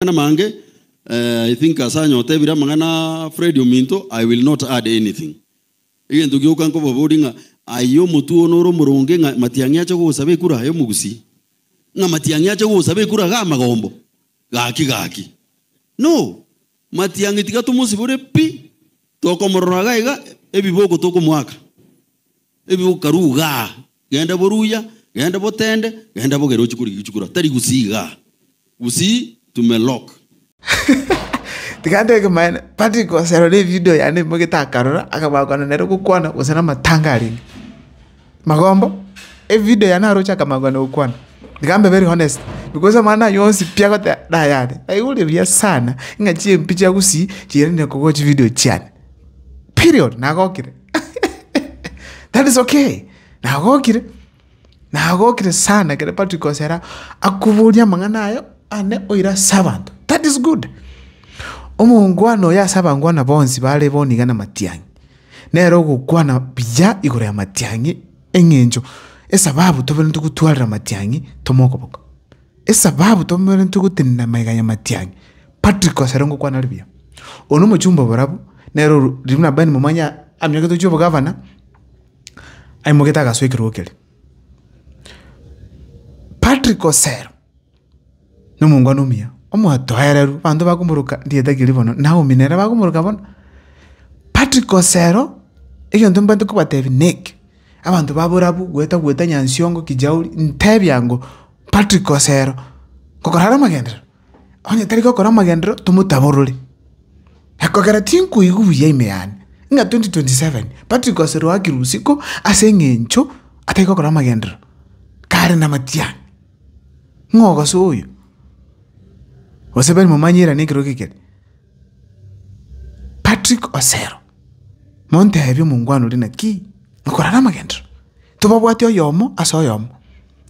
Amang'ana amange, eh, I think ase anyotebire amang'ana a Fred ominto, I will not add anything. Egento gioka nkobaboria ng'a aye omotwe one ore omoronge ng'a Matiang'i ache gogosaba ekura aye omogusii? Ng'a Matiang'i ache gogosaba ekura iga amagombo? Gaki gaki. No! Matiang'i tiga tomosibore pi, tokomorora iga iga ebiboko tokomoaka. Ebiboko karuu igaa. Genda boruya, genda botende, genda bogere ochikwe rigichu chikura, tari gusii iga, gusii to me lock. Tiga ntebeke maene, Patrick oserore evideo yane emagete akarora, akabaa kogwana nere gokwana gose namatanga arenge. Magombo, evideo yane naro oche akamanya kogana gokwana. Tiga mbe very honest, because amang'ana aya onsi pi agoteba nayane. Naigure buya sana, ng'a chimpia chia gusii chiiranirie kogocha evideo chiane. Period, nagokire. That is okay. Nagokire. Nagokire sana ekero Patrick Osera akoboria amang'ana ayo ane oira ase abanto. That is good. Omongwana oyo ase abangwana bonsi bare boniga na matiang'i. Nere ogokwana buya igoro ya matiang'i eng'encho esababu toberekete gotwarera matiang'i tomokoboko. Esababu tomerentwe gotenena amaiga ya matiang'i. Patrick ase are ngokwana ribuya. Oyo nomochumba oborabu, nere oru ribu na Ben momanye amioke tochia obogavana, aimogete agasoa ekerogo kere. Patrick Osero, nomongwana omuya, omotoereru, banto bakomoroka rieta ki ribono, Naomi nere bakomoroka bono. Patrick Osero, egento mbwenerete kobatebia neke, abanto baborabu, gweta gweta Nyansiongo, Kijauri, ntebia ngo. Patrick Osero, Ngokorara amagenderero? Onye tari gokora amagenderero, tomotaborore. Ekogera tinkoigwa buya ime yane, ng'a 2027 Patrick Osero oakire usiku ase eng'encho atari gokora amagenderero, kare namatiang'a. Ng'a ogoso oyo, gose bari momanyera nekero eke kere. Patrick Osero, montebi omongwana oria naki, ngokorara amagenderero? Tobabwati oyomo ase oyomo.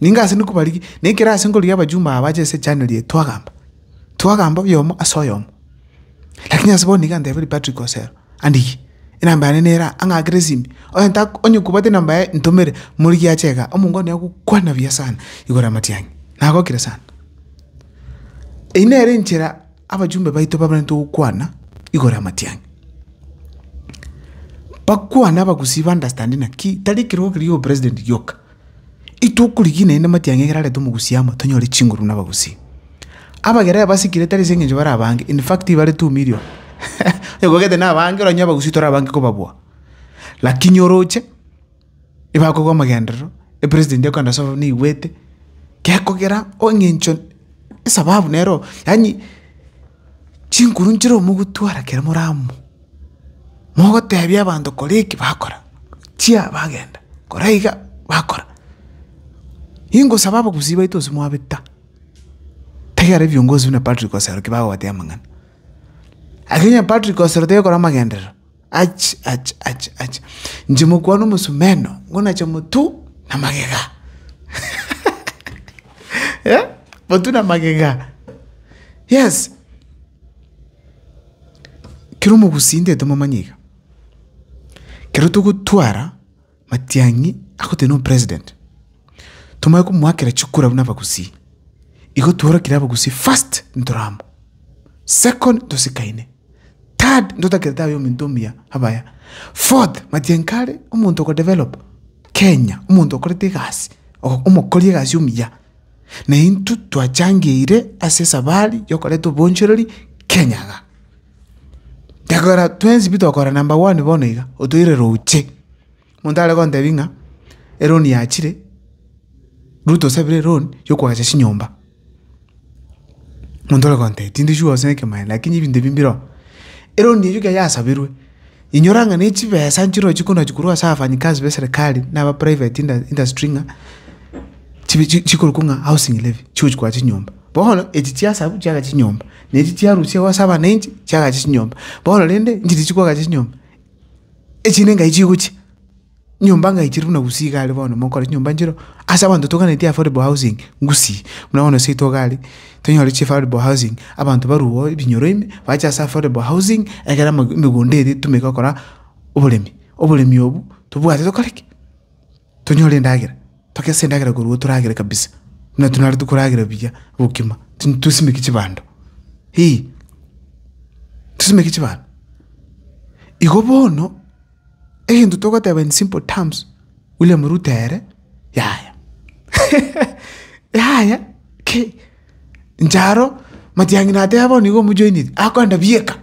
Ninga ase nigo barigie, na ekero ase nkorigia abajumbe aba bache ase January eye twagamba, twagamba oyomo ase oyomo. Lakini ase bono nigo antebeire Patrick Osero, andigie, enamba yane nere aa, ang'akere esimi, onye ta onye kobwate enamba yaye ntomere, morigie ache igaa, omonko one agokwana buya sana igoro y'amatiang'i. Nagokire sana. Eyio nere enchera. Abachumba baito babarente gokwana igoro y'amatiang'i. Bakwane abagusii ba understand naki tari ekerogo keria giopresident gioka. Intwe okorigia naende amatiang'i ekero areta omogusii amo tonyore chinguru buna abagusii. Abagera basikire tari ase eng'encho bare abange in fact bare two million onye kogete nabange oranyore abagusii tore abange kobabua. Lakini oroche. Ebakogwa amagenderero, epresident ekogenda ase ababani neigwete, gekogera engencho esababu nero yaani chinkuru nchire omogotwara ekero more amo, mogotebia abanto kora eki bakora, chia bagenda, kora iga bakora. Ingosaba abagusii baito gose mwabeta, taiyo rero viongozi buna Patrick Osero ki bagobatebi amang'ana. Lakini onye Patrick Osero toyo okora amagenderero. Ach! Ach! Ach! Ach! Inche mokwana omosomeno, ngonacha motu na magega. Eh? Motu na magega. Yes. Kero omogusii intwe tomomanya iga. Kero togotwara Matiang'i agoteba na omopresident, Tomanye komoakera chikura buna abagusii. Igo tworokire abagusii first ntore amo, second ntosikaine, third ntotakere tabe omonto omuya abaya, fourth Matiang'i kare omonto okodevelop Kenya, omonto okorete egasi, ogo- omokori egasi omuya. Na intwe twachangeire ase esabari yokoreta obonchereri Kenya iga. Gekogera twensi pi tokora number one bono iga, otoire roche. Monto are gontebi ng'a eloan yachire, Ruto osabire eloan yokoacha chinyomba. Monto ore gontebi, tindi sure gose nekemanyereria lakini ebinto ebi mbire oo. Eloan eyio ekero yasabirwe, inyora ng'a ne chibesa nchire ochi kona chi korwa ase abafanyikazi b'eserekari na aba private inda industry ng'a chibe chi chikorokwa ng'a housing levy, chigochi koacha chinyomba. Bono echi chiasabu chiaga chinyomba. ne inche chiarusia ase abananchi chiagacha chinyomba. Bono rende inche riria chikwagacha chinyomba, echinde engaye chigochia, nyomba engaye chire buna gusii iga are bono monkore chinyomba nchireo ase abanto toganetie affordable housing gusii. Buna bono gose itwe iga are, tonyore chi affordable housing, abanto barwe oo ebinyoro ime, bache ase affordable housing, egere ama emegunda eria etumeke gokora oboremi. Oboremi obwo, tobwate tokore ki? tonyore endagera, togese endagera korwa iga toragere kabisa, buna intwe nare tokoragera buya bokima, tin- tosimeke chibando eh, tosimeke chibando. Igo bono, egento togoteba in simple terms, William Ruto ere yaya yaya ki? Inche aro, Matiang'i nateba bono iga omojoiniri, akorenda bieka,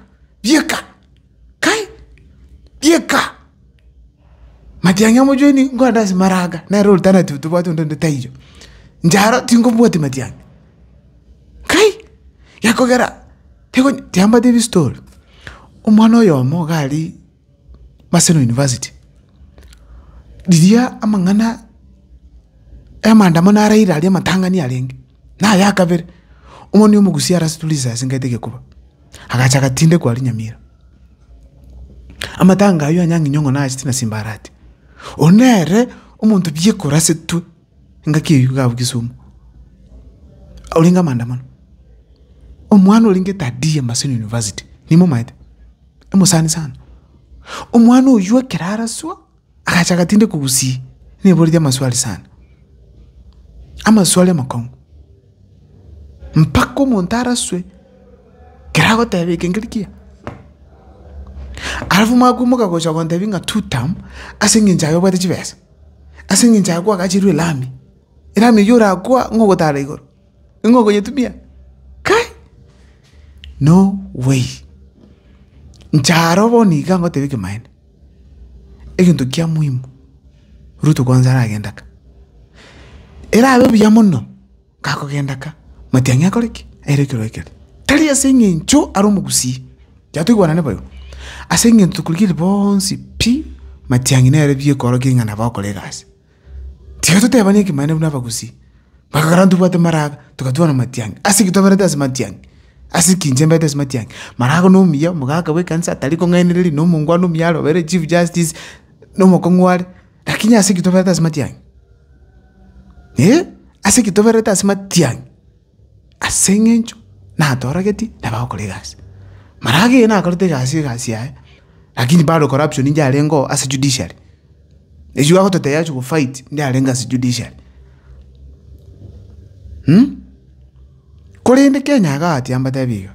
bieka. Kai! Rieka! Matiang'i amochwenie nkogende ase maraga, nere alternative tobwate onde onde taiyo. Ncharo tinkobwatia matiang'i. Kai! Gekogera teko tiambate ebistory. Omwana oyomo iga aria Maseno University, riria amang'ana e maandamano ya Raila aria amatang'ani arenge, naye akabere, omoni omogusia arasitulise asengete gekoba. agacha agatindekwa aria Nyamira. Amatanga ayio anyang'inyo ng'a naachete na simbarati. Oyo nere omonto biekorasetwe engaki eyio iga abwo Kisumu, orenge amaandamano. Omwana orenge Tadia Maseno University, nimomanyete? Omosani sana. Omwana oyio ekero araswa. Agachaka tinde kogusii, niboretie amaswali sana, amaswali amakong'u, mpaka omonto araswe, ekero agoteba eke ngeria kiya. Alafu mwakoimoka gocha gontebia ng'a two term ase eng'encho aye obwate chibesa, ase eng'encho aye kwagacherwe elami, elami eywo orakoa ng'a ogotara igoro. Ning'o okonyetumia? Kai! No way! Inche aro bono iga ngoteba ekemanyererio, egento kia muhimu, Ruto kwanza aragenda ka, erabe buya mono gakogenda ka, Matiang'i akore ki? Aire ekerore keria. Tari ase eng'encho are omogusii, yaya toigwanane boigo, ase eng'encho tokorigire bonsi pi, Matiang'i nere biekorokia ng'a nabo akore egasi. Tiga totebane ekemanera buna abagusii, bakagera ntobwate maraga, togatwara amatiangi. Ase ki toberete ase matiangi? Ase ki inche mberete ase matiangi? Marago na omuya, omogaka bwe ekanisa atari kong'ainereria, na omongwana omuya are oberete chief justice, na omokong'u are, lakini ase ki toberete ase matiangi? Ase ki toberete ase matiangi? Ase eng'encho natoragetie nabo agokora egasi. Maraga eye nakorete egasi egasi yaye, lakini bado corruption inche yarengeo ase judiciary. Echio bagototebia achia gofight nde arenge ase judiciary. Mh, korende Kenya iga ati ambatebi iga,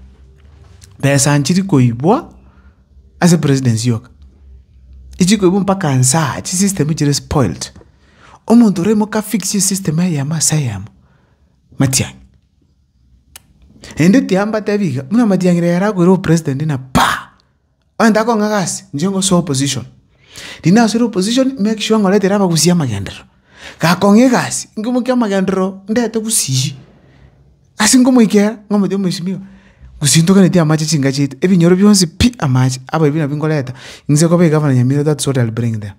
pesa nchiri koibwa ase presidency yoka, ichi koibwa mpaka nsaa, chisystem chire spoilt. Omonto oraimoke afixie esystem eyemo ase eyemo. matiang'i. Naende tiambatia ebiga, buna matiang'i riria yarakoire obopresident na paa! Onye takong'a gasi, inche ngosoe opposition. Riria nasoire opposition, make sure ng'oretera abagusii amagenderero. Gakong'a egasi, nkomokia amagenderero ndete gusii, ase nkomoikera, nkomotebi mweshimiwa, gusii ntoganyeti amache chinka chiaito, ebinyoro bionsi pi amache, abaibori nabio nkoreta, inse nkoba egavana Nyamira that is what I'll bring there.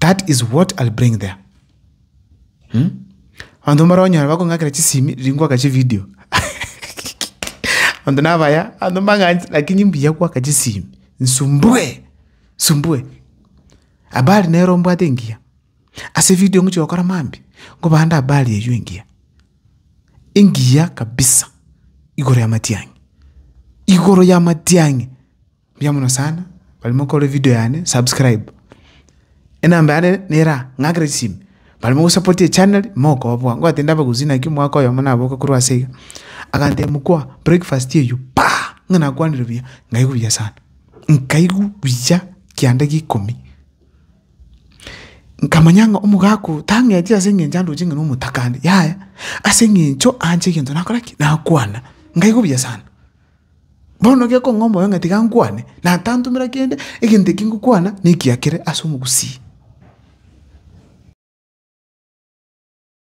That is what I'll bring there. Hmm? Abanto mbare onyora bakong'akera chisimi riria ngwaka chivideo. Abanto nabaya, abanto mbang'anche lakini mbuya gwaka chisimi. Nsumbue, nsumbue. Habari nero mbwate engiya. Ase evideo ngochia gokora mambia, nkobande habari eyio engiya. Engiya kabisa igoro y'amatiang'i, igoro y'amatiang'i. Mbuya mono sana bari mokorora evideo yane subscribe enamba yane nera ng'akera chisimi bari mogosapoti echannel mokoboa ngoteba ndabagusie naki omwaka oyomo naboke korwa ase iga agantebia mokwa breakfast eywo paa ng'a nakwanire buya nkaigwa buya sana nkaigwa buya kianda gia ikomi nkamanya ng'a omogaka oyo tang'eti ase eng'encho andoche ng'a nomotakare yaya ase eng'encho anche egento nakora ki nakwana nkaigwa buya sana. Bono gekong'a omoyo ng'a tiga nkwane, na tantomera kende, egento eki ngokwana nekiakere as'omogusii.